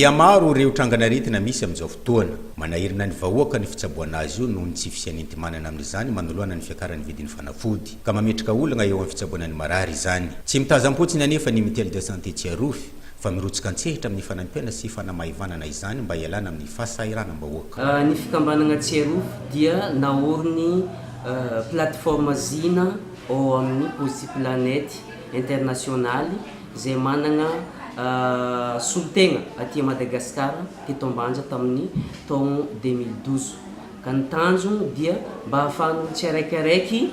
Mihamaro ireo trangan'aretina misy amin'izao fotoana. Manahirana ny vahoaka ny fitsaboana azy io noho ny tsy fisian'enti-manana amin'izany manoloana ny fiakaran'ny vidin'ny fanafody, ka mametraka olana eo amin'ny fitsaboana ny marary izany. Tsy mitazam-potsiny anefa ny Mutuelle de Santé Tsiarofy, fa mirotsaka an-tsehatra amin'ny fanampiana sy fanamaivanana izany mba hialana amin'ny fahasahiranam-bahoaka. Ny fikambanana Tsiarofo dia naorin'ny plateforme Zina ao amin'ny Posipilanety Internasionaly izay manana solotegna aty Madagasikara teto Ambanja tamin'ny taogno deux mille douze ka ny tanjony dia mba ahafahan'olo tsiaraikaraiky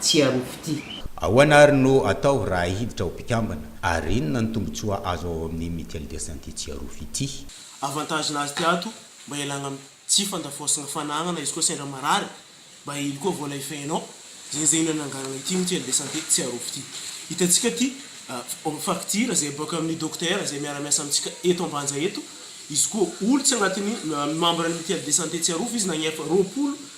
tsy arofo ty. Ahoana ary no atao raha hiditra ho mpikambana ary inona ny tombotsoa azo ao amin'ny mutuelle de santé tsy arofo ity? Avantage nazy ty ato mba ialagna am tsy fandafoasagna fanagnana izy koa sendra marary mba hely koa vola efehinao zegny zegny no ananganana ity mutuelle de santé tsy arofo ty hitantsika ty facture zay boaka aminy docteur zay miara miasa amitsika eto ambanja eto izy koa olo tsy agnatiny membre ny mutuelle de santé tsy arofo izy nagnefa roapolo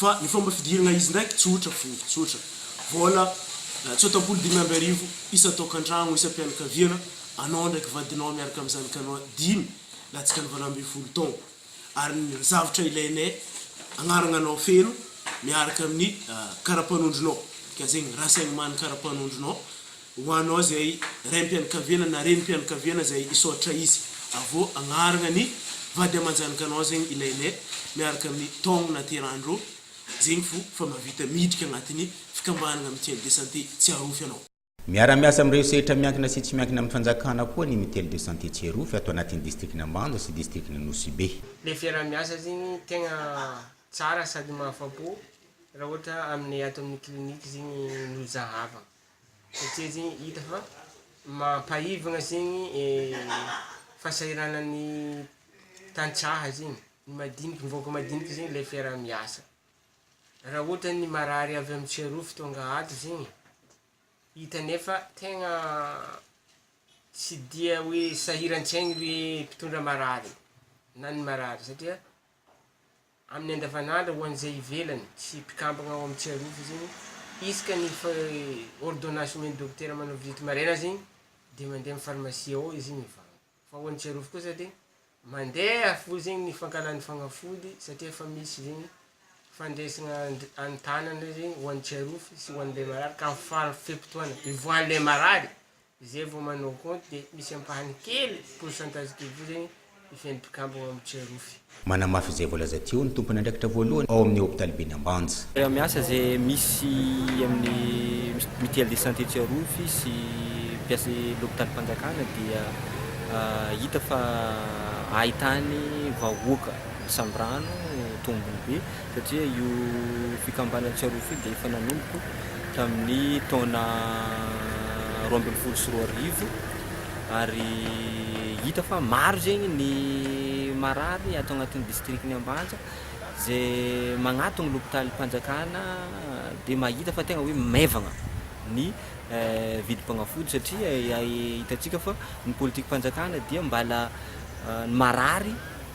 Fa ny fomba fidirana izy ndraiky tsotra fo, tsotra. Vola tsotam-polo dimy amby arivo isan-taokantragno, isam-pianakaviana, anao ndraiky vadinao miaraka amin'ny zanakanao dimy latsaka ny valo ambin'ny folo taogno. Ary ny zavatra ilainay, agnaragna anao feno miaraka amin'ny karapanondronao, ka zegny raha saigny maha ny karapanondronao, Ho anao izay raim-pianakaviana na renim-pianakaviana izay hisaotra izy avô agnaragna ny vady aman-janakanao zegny ilainay miaraka amin'ny taogno nahaterahan'irô zegny fo fa mavita midriky agnatin'ny fikambanagna mutuelle de santé Tsiarofy anao. Miara-miasa amin'ireo sehatra miankina sy tsy miankina amin'ny fanjakana koa ny mutuelle de santé Tsiarofy ato anatin'ny distrikan'Ambanja sy distrikan'i Nosy-Be. Le fiaraha-miasa zegny tegna tsara sady mahafa-po raha ohatra aminay ato amin'ny clinique zegny no zahavagna. satria zegny hita fa mampaivagna zegny fahasahiranan'ny tantsaha zegny, ny madiniky ny vahoaka madiniky zegny le fiaraha miasa, raha ohatra ny marary avy amin'ny tsiarovy tonga ato zegny hita nefa tegna tsy dia hoe sahiran-tsaigny le mpitondra marary na ny marary satria. amin'ny andavanandro ho an'izay ivelany sy mpikambana ao amin'ny tsiarova izy iny, izy ka ny fa ordonnance omen'ny dokotera manao visite maraina azy iny dia mandeha amin'ny pharmacie ao izy iny hivango, fa ho an'ny tsiarova kosa dia mandeha avoa zegny ny fankahalany fagnafody satria efa misy zegny fandresana any tanana zegny ho an'ny tsiarova sy ho an'ilay marary ka amin'ny faran'ny fe-potoana hivoahan'ilay marary Izay vao manao compte dia misy ampahany kely pourcentage de vous zegny hifehy ny mpikambana ao amin'ny Jerofy. Manamafy izay voalaza teo ny tompon'andraikitra voalohany ao amin'ny hopitaliben'i Ambanja. Miasa izay misy amin'ny mutuelle de santé Jerofy sy mpiasa lopitalim-panjakana dia hita fa ahitany vahoaka misambrano tombony be satria io fikambanana Tsiarovy io dia efa nanomboka tamin'ny taona roa ambin'ny folo sy roa arivo ary hita fa maro zegny ny marary ato agnatin'ny district-n'i Ambanja izay magnatogny lopitalim-panjakana dia mahita fa tegna hoe maivagna ny vidim-pagnafody satria hitantsika fa ny politikam-panjakana dia mbala ny marary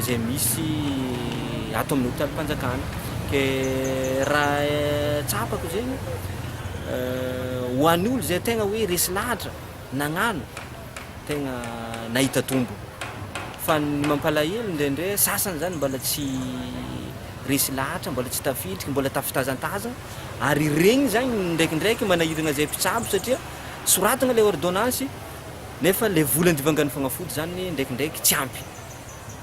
izay misy ato amin'ny hopitalim-panjakana. Ke raha tsapako zegny ho an'ny olo zay tegna hoe resy lahatra nagnano tegna nahita tombony fa ny mampalahelo indraindray sasany zany mbala tsy resy lahatra mbala tsy tafiditry mbala tafitazantazana ary regny zany ndraikindraiky manahiragna zay mpitsabo satria soratagna le ordonnance Nefa le vola andivangan'ny fagnafody zany ndraikindraiky tsy ampy.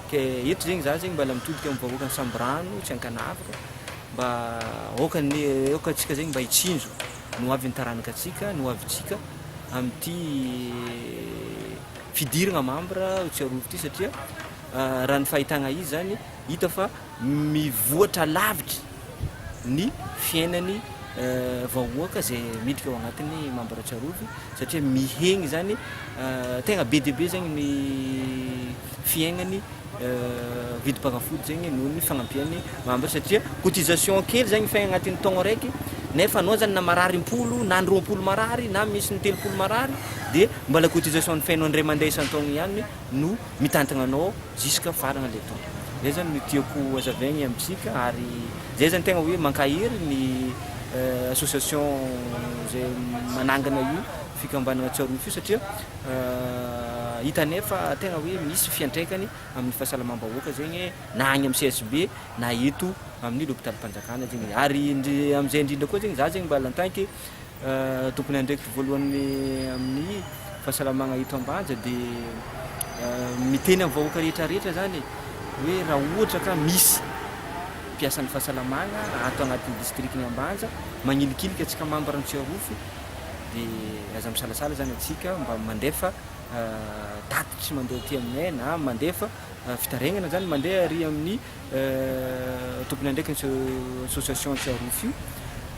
Ke eto zegny za zegny mbala mitodika amin'ny vahoakan'i Sambirano, tsy Ankanavaka, mba aoka ny aoka antsika zegny mba hitsinjo ny hoavin'ny taranaka antsika, ny hoavintsika amin'ity fidiragna membre tsiarovo ity satria raha ny fahitagna izy zany hita fa mivoatra lavitra ny fiainany vahoaka izay miditra ao anatin'ny mambra Tsarovy satria mihegny izany tegna be dia be zegny ny fiaignany vidim-panafody zegny noho ny fagnampian'ny mambra satria cotisation kely zegny fay agnatin'ny taogno araiky nefa anao zany na marary impolo na ny roampolo marary na misy ny telopolo marary de mbala cotisation ny fainao indray mandeha isan-taogno ihany no mitantagna anao jusque faragna le tompo zay zany no tiako hazavaigny amintsika ary zay zany tegna hoe mankahery ny association zay manangana io fikambanagna Tsiarona fio satria hitanay fa tegna hoe misy fiantraikany amin'ny fahasalamam-bahoaka zegny na agny amin'ny CSB na eto amin'ny lopitalim-panjakana zegny ary indri- amin'izay indrindra koa zegny za zegny mba lantanke Tokony andraikitro voalohany amin'ny fahasalamagna eto Ambanja dia miteny amin'ny vahoaka rehetra rehetra zany e, hoe raha ohatra ka misy mpiasan'ny fahasalamagna ato agnatin'ny distrikan'i Ambanja magnilikiliky antsika mambra ny Tsiarofo dia aza misalasala zany antsika mba mandefa tatitry mandeha aty aminay na mandefa fitarainana zany mandeha ary amin'ny tompon'andraikitry association Tsiarofy io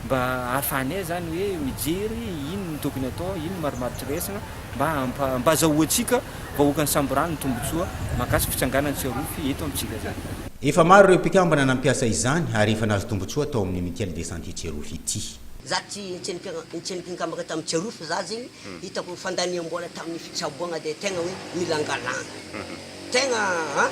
mba ahafahanay zany hoe mijery ino no tokony atao, ino no marimaritra raisina mba hampa- mba azahoantsika vahoakan'ny Samborano ny tombotsoa mahakasika fitsanganan'i Tsiarofy eto amintsika zany. Efa maro ireo mpikambana nampiasa izany ary efa nahazo tombotsoa tao amin'ny Mutuelle de Santé Tsiarofy ity. Za tsy tsy tsy nikambaka tam Tsiarofy za zegny hitako fandaniam-bola tamin'ny fitsaboagna de tegna hoe milangalanga tegna an!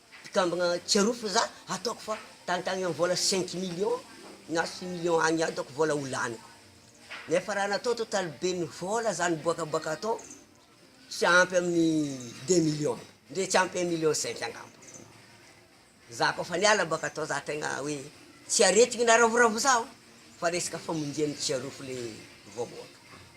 Mpikambana Tsiarofy za ataoko fa tantagny am vola cinq millions na six millions agny ihany ataoko vola ho laniko nefa raha natao total ben'ny vola zany boakaboaka atao tsy ampy amin'ny deux millions ndre tsy ampy un million cinq angamba za koa fa niala boaka atao za tegna hoe tsy aretigny na ravoravo zaho fa resaka famonjia ny Tsiarofy le vaoboaka.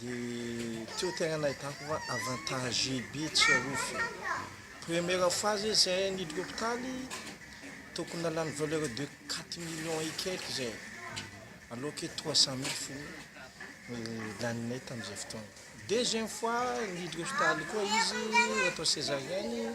Dia teo tegna nahitako fa avantagé be tsy arofo. Première fois zay zay niditra hôpitaly tokony nalany valeur de quatre millions et quelques zay alors que trois cent mille fogna laninay tam'izay fotoagna. Deuxième fois niditra hôpitaly koa izy natao césarienne.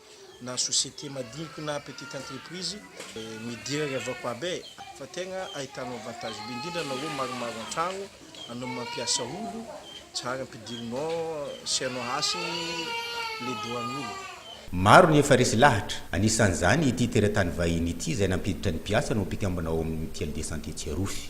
na société madiniky na petite entreprise midera ry avako aby e! fa tegna ahitanao avantage be indrindra anao maromaro antragno anao mampiasa olo tsara ampidirinao sy anao hasiny le dohan'olo. Maro ny efa resy lahatra, anisan'izany ity teratany vahiny ity izay nampiditra ny mpiasany ho mpikambana ao amin'ny mutuelle de santé Tsiarofy.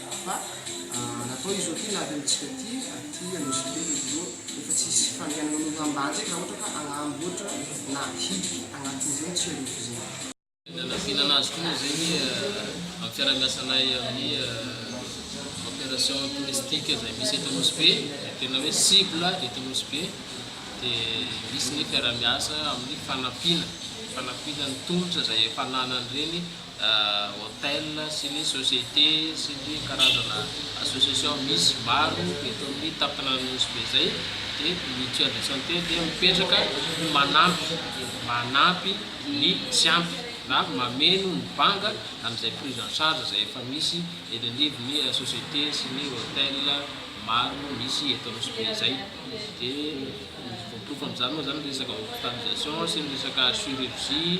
Fa natao izy ireo ity lavintsika ity aty Anosibe izy ireo efa tsy hisy fandrianana ny oram-bary ndraiky raha ohatra ka agnamboatra na hiditra agnatin'izegny tsy arivo zegny. Ny nanafinana azy koa moa zegny amin'ny fiarahamiasanay amin'ny coopération touristique izay misy eto Anosibe, izay tena hoe cible eto Anosibe, dia misy ny fiarahamiasa amin'ny fanampiana, fanampiana ny tolotra izay efa ananan'ireny. Hotel sy ny société sy ny karazana association misy maro eto amin'ny tampona Nosy be izay dia ny mutuelle de santé dia mipetraka ho manampy manampy ny tsy ampy na mameno ny banga amin'izay prise en charge izay efa misy eny anivon'ny société sy ny hotel maro misy eto Nosy be izay dia ny voaporofo amin'izany moa izany ny resaka hospitalisation sy ny resaka chirurgie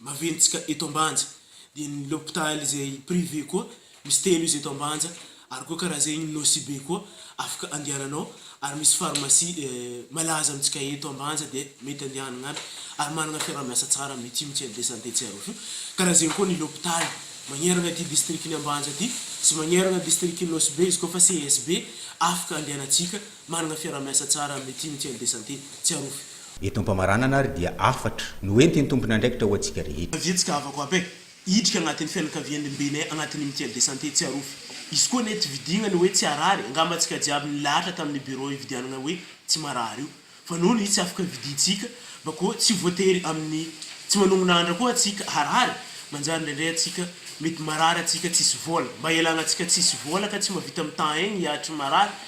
Maventintsika eto Ambanja dia ny l'hôpital izay privé koa misy telo izy eto Ambanja ary koa karaha izay ny Nosy be koa afaka andehananao ary misy pharmacie malaza amintsika eto Ambanja dia mety andehanagna aby ary managna fiaraha-miasa tsara mety io mitsena dia santé tsy aroso io karaha zegny koa ny l'hôpital magneragna ity district ny Ambanja ty sy magneragna district ny Nosy be izy koa fa CSB afaka andehanantsika Manana fiaraha-miasa tsara amin'ny tim Tiens de Santé Tsiarofy. Eto am-pamaranana ary dia hafatra no hoentin'ny tompon'andraikitra ho antsika rehetra. Vitsika havako aby eh! Hiditra agnatin'ny fianakavian'ny Mbene agnatin'ny im Tiens de Santé Tsiarofy. Izy koa anie tsy vidiagna ny hoe tsy harary, angamba antsika jiaby nilahatra tamin'ny bureau ividianagna hoe tsy marary io. Fa noho ny tsy afaka vidintsika, mba koa tsy voatery amin'ny tsy manognona andra koa antsika harary, manjary ndraindray antsika mety marary antsika tsisy vola. Mba ialagna antsika tsisy vola ka tsy mavita mitan-aigny hiahatry ny marary